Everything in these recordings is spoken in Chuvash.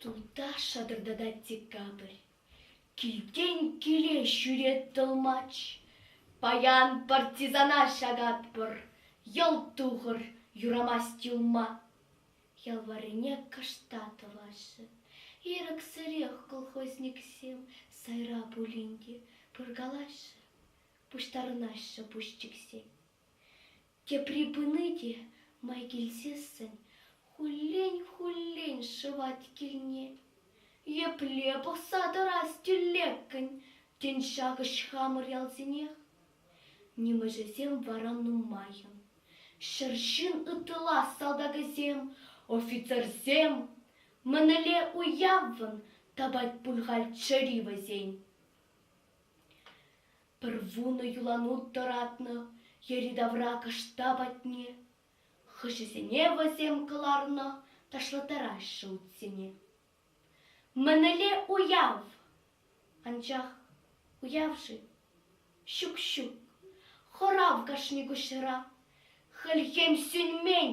Туташ шатӑртатать декабрь. Килтен киле ҫӳрет тӑлмач. Паян партизана ҫакатпӑр. Йӑл тухӑр, юрамасть юлма. Ял варрине кӑшта тӑваҫҫӗ. Ирӗксӗрех колхозниксем сайра пулин те пыркалаҫҫӗ, пуҫтарӑнаҫҫӗ пуҫчиксен. Тепри пыни те май килсессӗн хуллен-хуллен шӑвать килне. Епле пӑхса тӑрас тӳлеккӗн тен ҫакӑҫ хамӑр ялсенех? Нимӗҫӗсем вара нумаййӑн. Ҫӗр ҫын ытла салтакӗсем, офицерсем. Мӗнле уяввӑн тапать пуль халь чӗри вӗсен. Пӗр вунӑ юлану тӑратнӑ йӗри-тавра кӑшта патне. Хыҫӗсене вӗсем кӑларнӑ ташлаттараҫҫӗ утсене. Мӗнле уяв! Анчах уяв-ши? Ҫук-ҫук, хӑрав кашни куҫра. Хӗлхем сӳнмен.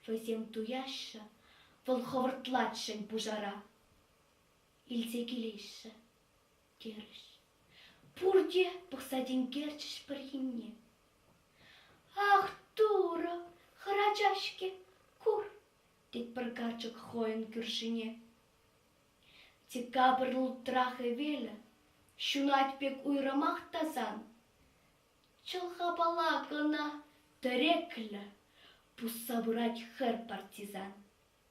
Вӗсем туяҫҫӗ, вӑл хӑвӑртлатшӑн пушара. Илсе килеҫҫӗ. терӗҫ. Пурте пӑхса тинкерчӗҫ пӗр енне. Ах, Турӑ, хӗрача-ҫке, кур, тет пӗр карчӑк хӑйӗн кӳршине. Декабрь лутра хӗвелӗ ҫунать пек уйрӑмах тасан. Чӑлхапала кӑна тӗреклӗ, пусса пырать хӗр партизан.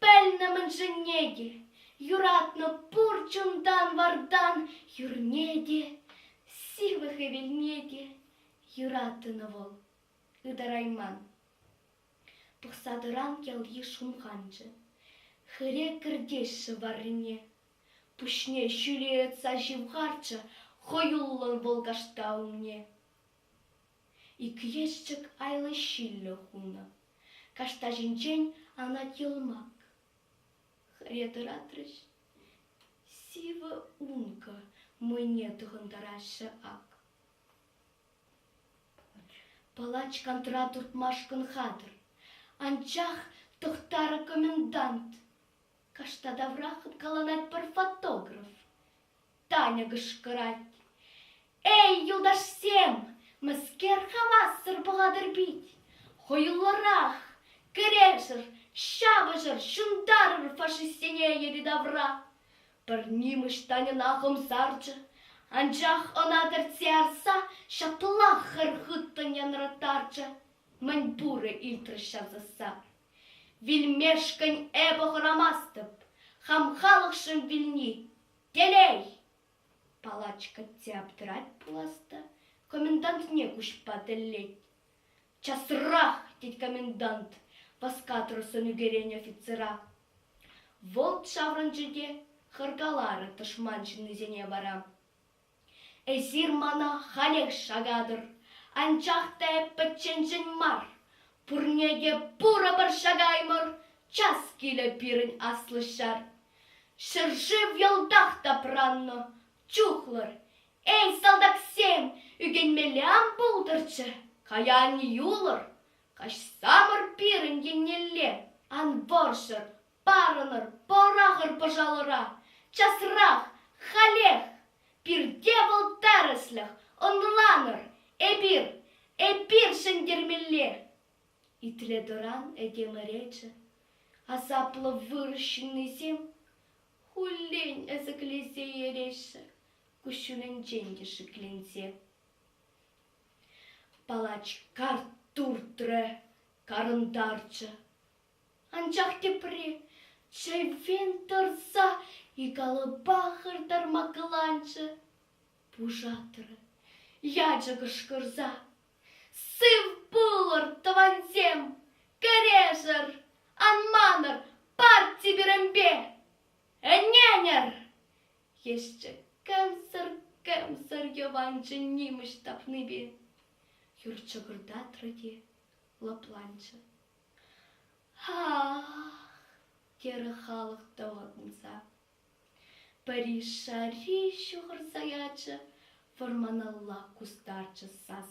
Пӗлнӗ мӗншӗнне те, юратнӑ пур чунтан-вартан юрне те, сывлӑх хӗвелне те юратнӑ вӑл ытарайман. Пӑхса тӑран ялйыш хумханчӗ. Хӗре кӗртеҫҫӗ варрине. Пуҫне ҫӳле ытса ҫывхарчӗ хӑюллӑн вӑл кашта умне. Иккӗешчӗк айлӑ-ҫиллӗ хунӑ. Каштаҫӗнчен анать йӑлмак. Хӗре тӑратрӗҫ. Сивӗ ункӑ мӑйне тӑхӑнтараҫҫӗ ак. Палач кантӑра туртмашкӑн хатӗр. Анчах Тӑхтарӑ комендант. Кашта таврах ыткаланать пӗр фотограф. Таня кӑшкӑрать. Эй, юлташсем, мӗскер хавассӑр пӑхатӑр пит? Хӑюллӑрах, кӗрешӗр, ҫапӑҫӑр, ҫунтарӑр фашистсене йӗри-тавра. Пӗр нимӗҫ Таньӑна хӑмсарчӗ, анчах ӑна тӗртсе ярса ҫаплах хӗр хыттӑн янраттарчӗ. Мӗн пурӗ илтрӗҫ ҫав сасса. Вилмешкӗн эпӗ хӑрамастӑп, хам халӑхшӑн вилни телей! Палачка те аптӑрать пулас та комендантне куҫпа тӗллет. «Часрах!» — тет комендант, васкатрусӑн ӳкерен офицера. Вӑлт ҫаврӑнчӗ те хӑркаларӗ тӑшман ҫыннисене вара. Эсир мана халех шакатӑр, анчах та пӗчченшӗн мар, пурне те пурӑпӑр шакаймӑр, час килӗ пирӗн аслӑ ҫар. Ҫӗршыв йӑлтах тапраннӑ, чухлӑр. Эй, салтаксем, ӳкӗнмелле ан пултӑрччӗ, кая ан юлӑр, каҫсамӑр пирӗн еннелле, ан вӑрҫӑр, Парӑнӑр, пӑрахӑр пӑшалӑра, часрах, халех! Пирте вӑл тӗрӗслӗх, ӑнланӑр, эпир, эпир ҫӗнтермелле! Итле-тӑран этем ӗречӗ, асаплӑ вырӑс ҫыннисем хуллен ӗсӗклесе ереҫҫӗ, куҫҫулӗнчен те шикленсе. Палач карт туртрӗ, карӑнтарчӗ. Анчах тепре чейвен тӑрса икалӑпа хӑртарма кӑланчӗ. Пушатӑр, ячӗ кӑшкӑрса. Сыв пулӑр, тӑвансем! Кӗрешӗр! Ан манӑр парти пирӗнпе! Ӗненӗр! Есчӗ кӗмсӗр-кӗмсӗр йӑванчӑ нимӗҫ тапнипе. Юр чӑкӑртатрӗ те лӑпланчӗ. терӗ халӑх тӑватӑнса. Пӗри шарри ҫухӑрса ячӗ, вӑрманалла кустарчӗ сас.